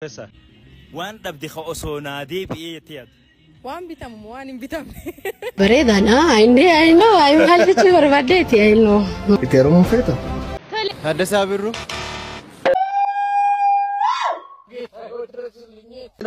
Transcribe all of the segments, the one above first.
Kessa waan dhabde ka osoo naa deebi'ee jettee yaaddu. Waan bitamu moo waan hin bitamne? Bareedaadha. Inni ayinoo ayinoo maal jechuu barbaaddeeti ayinoo. Itti heerumuu feeta? Taaddasaa Birruu.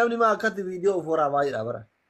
Namni maa akkatti viidiyoo of waraabaa jira bara.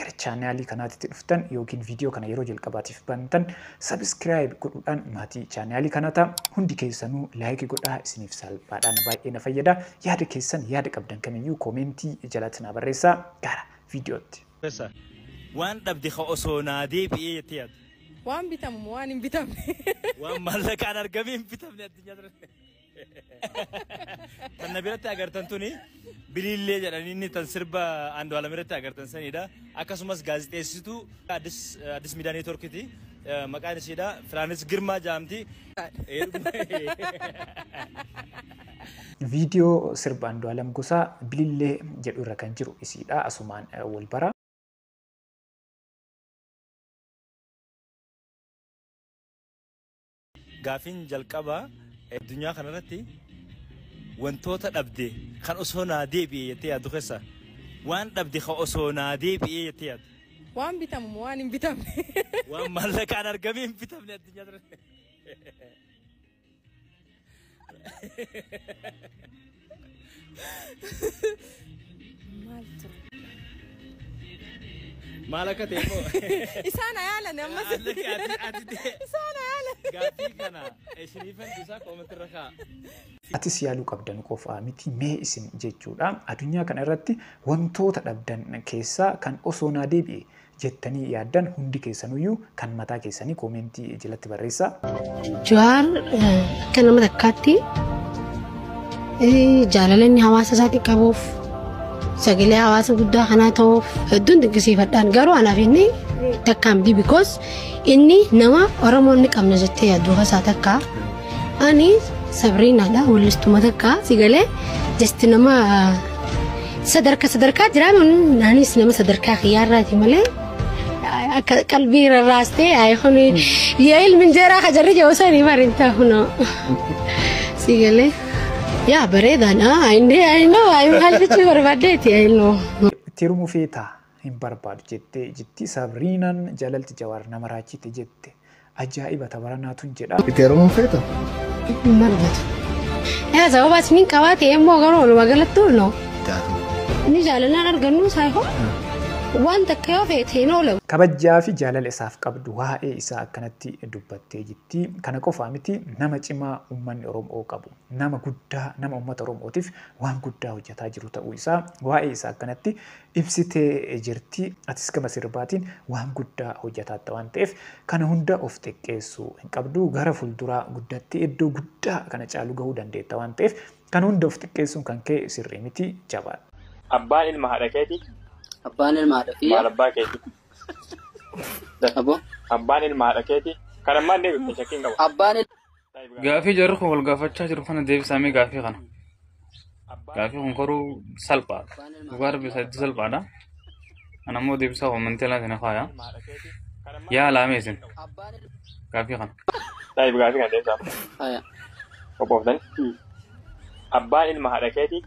gara chaanaalii kanaatitti dhuftan yookiin viidiyoo kana yeroo jalqabaatiif bantan sabiskiraayib godhuudhaan maatii chaanaalii kanaa ta'a. Hundi keessanuu laayikii godhaa isiniif salphaadhaan baay'ee na fayyada. Yaada keessan yaada qabdan kamiyyuu koomeentii jalatti naa barreessaa gara viidiyootti. Professor, waan dhabde ka osoo naa deebi'ee jettee yaaddu? Waan bitamu moo waan hin bitamne? Waan maallaqaan argamee hin bitamne addunyaa tana. Tan na biratti agartan tuni biliillee jedhanii inni tan sirba Andu'aalam irratti agartan sanidha. Akkasumas gaazexeessituu Addis Addis Miidiyaa Neetworkiti. Maqaan ishiidha Firaanis Girmaa jedhamti. Viidiyoo sirba Andu'aalam Gosaa Bilillee jedhu irra kan jiru isiidha. Asumaan wal bara. Gaafiin jalqabaa addunyaa kanarratti wantoota dhabde kan osoo naa deebi'e jettee yaaddu keessa waan dhabde kan osoo naa deebi'e jettee yaaddu. Waan bitamu moo waan hin bitamne? Waan maallaqaan argamee hin bitamne addunyaa kanarratti. Maal ture? Maal akka ta'e immoo Isaan ayaalan ammas. Ati- ati- ati ta'e. Isaan ayaalan. gaaffii kana isiniifan dhiisaa koomatti irra kaa'a. atis yaaluu qabdan qofaa miti mee isin jechuudha. Addunyaa kana irratti wantoota dhabdan keessaa kan osoo naa deebi'e jettanii yaaddan hundi keessanuyyuu kan mataa keessanii koomentii jalatti barreessaa. Jawaar akka nama takkaatti jaalala inni hawaasa isaatii qabuuf sagalee hawaasa guddaa kanaa ta'uuf hedduun dinqisiifadhaan garuu anaaf inni takkaan bi because inni nama Oromoo inni qabna jettee yaaddu keessaa takka. Ani Sabriinaadha wallistuma takka si galee jasti nama sadarka sadarkaa jiraa anis nama sadarkaa kiyyaarraati malee akka qalbii rarraastee ayi kun yaa ilmi injeeraa ka jarri jiru sanii bariin taa kunoo si galee yaa bareedaadha inni inni maal jechuu barbaaddeeti inni. Itti hirmuu feetaa? hin barbaadu jette jitti sabriinan jalalti jawaar nama raachite jette ajaa'iba tabaranaa tun jedha. Itti heerumuu feeta? Hin barbaadu. Yaa sababa isniin qabaa ta'e immoo garuu walumaa galatti ulno. Taatu. Inni jaalallaan argannu saayihoo waan takka yoo feete hin oolamu. Kabajjaa fi jaalala isaaf qabdu waa'ee isaa akkanatti dubbattee jitti. Kana qofaa miti nama cimaa uummanni Oromoo qabu. Nama guddaa nama uummata Oromootiif waan guddaa hojjetaa jiru ta'uu isaa waa'ee isaa akkanatti ibsitee jirti. Atis gama sirbaatiin waan guddaa hojjataatta waan ta'eef kana hunda of xiqqeessuu hin qabdu. Gara fulduraa guddattee iddoo guddaa kana caalu gahuu dandeetta waan ta'eef kana hunda of xiqqeessuun kan kee sirrii miti. Jabaadhu. Abbaan ilma haadha keetii? Abbaan ilma haadha kiyya. Maal abbaa keetii? Aboo. Abbaan ilma haadha keetii? Kan ammaan deebifte shakkiin qaba. Abbaan Gaafii jarri kun wal gaafachaa jiru kana deebisaa mee gaafii kana. Gaafii kun garuu salphaadha. Dhugaa rabbi isaa itti salphaadha. Ana immoo deebisaa koomantee laata na faaya. Yaa laamee isin gaafii kana. Daa'ib gaafii kana deebisaa. Haya. Qophooftani. Abbaan ilma haadha keetii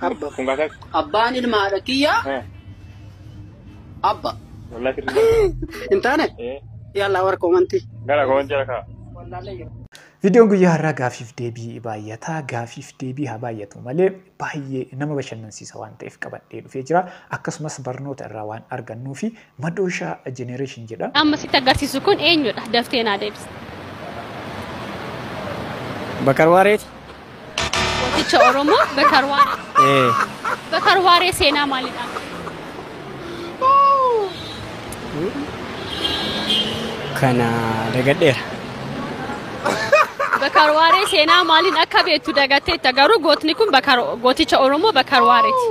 Abba. Kun kaa takka. Abbaan ilma haadha kiyyaa Eh, abba. Wallah sirrii dha. Hin taane? Eh, Yaalaa warra koomantii. Gara koon jira kaa. Viidiyoon guyyaa har'aa gaafiif deebii baay'ataa gaafiif deebii haa baay'atu malee baay'ee nama bashannansiisa waan ta'eef qabadhee dhufee jira. Akkasumas barnoota irraa waan argannuu fi Madooshaa Generation jedha. Amma sitti agarsiisu kun eenyudha? Daftee naa deebisi. Bakar Waareeti? Gooticha Oromoo Bakar Waaree. Ee. Bakar Waaree seenaa maalii qaba? Kana dagadheera. Bakar Waaree seenaa maaliin akka beektu dagatteetta garuu gootni kun Bakar- gooticha Oromoo Bakar Waareeti.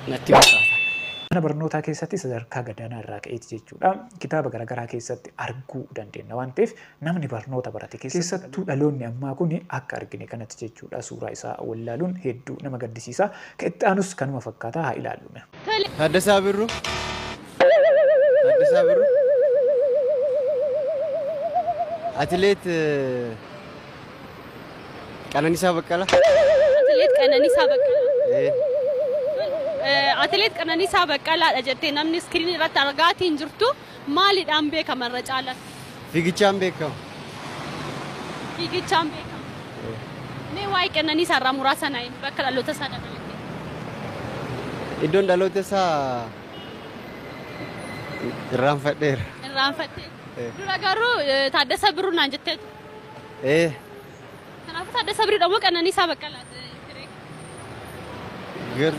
natti fakkaata. Mana barnootaa keessatti sadarkaa gadaanaa irraa ka'eeti jechuudha kitaaba garagaraa keessatti arguu dandeenna waan ta'eef namni barnoota barate keessattuu dhaloonni ammaa kun akka argine kanatti jechuudha suuraa isaa wallaaluun hedduu nama gaddisiisa. Ka itti aanus kanuma fakkaata haa ilaallu mee. Taaddasaa Birruu Taaddasaa Birruu Atileet. Qananisaa Baqqala. Atileet Qananisaa Baqqalaa. Eh, Atileet Qananisaa Baqqalaadha jettee namni iskiriinii irratti argaatii hin jirtu maalidhaan beekama irra caalatti? Fiigichaan beekama. Fiigichaan beekama. Mee waa'ee Qananisaa irraa muraasa na himi bakka dhaloota isaa dabalatee. Iddoon dhaloota isaa irraanfadheera. Irraanfattee. Eh. Dura garuu eh, Taaddasa Birruu naan jettee turte. Ee. Kanaafuu Taaddasaa Birruudha moo Qananiisaa Baqqalaa? Gar.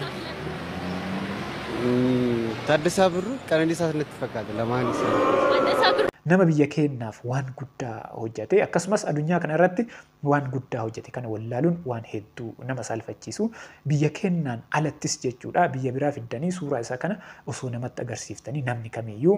Taaddasaa Birruu Qananiisaa natti fakkaata lamaan isaa. Taaddasaa Birruu. nama biyya keenyaaf waan guddaa hojjate akkasumas addunyaa kana irratti waan guddaa hojjate kana wallaaluun waan hedduu nama saalfachiisu biyya keenyaan alattis jechuudha biyya biraa fiddanii suuraa isaa kana osoo namatti agarsiiftanii namni kamiyyuu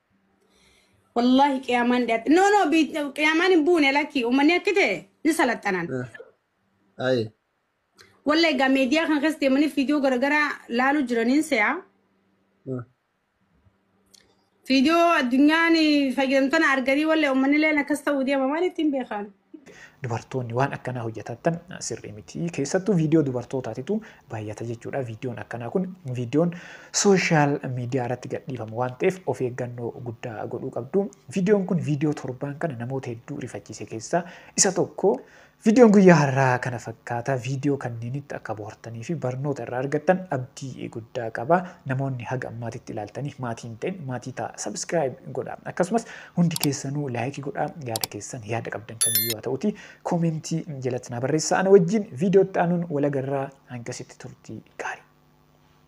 Wallaahi qiyaamaan dhiyaate. No no bi- qiyaamaan hin buune lakkii uummanni akki ta'e ni salaxanan. Ayi. Wallaahi egaa meediyaa kan keessa deemanii fiidiyoo garaagaraa laaluu jiraniin se'a. Fiidiyoo addunyaan fayyadamtoota arganii wallaahi uummanni illee akkas ta'uu deema maal ittiin beekan. dubartoonni waan akkanaa hojjetaattan sirrii miti. Keessattuu viidiyoo dubartootaatitu baay'ata jechuudha. Viidiyoon akkanaa kun viidiyoon sooshaal miidiyaa irratti gadhiifamu waan ta'eef of eeggannoo guddaa godhuu qabdu. Viidiyoon kun viidiyoo torbaan kana namoota hedduu rifachiise keessaa isa tokko. Viidiyoon guyyaa har'aa kana fakkaata. Viidiyoo kanneenitti akka bohaartanii fi barnoota irraa argattan abdii guddaa qaba. Namoonni haga ammaatitti ilaaltanii maatii hin ta'in maatii ta'a. Sabiskiraayib godha. Akkasumas Hundi keessanuu like godhaa yaada keessan yaada qabdan kamiyyuu haa ta'uti koomentii jalatti naa barreessaa ana wajjin viidiyoo itti aanuun wal agarraa hangasitti turtii gaarii.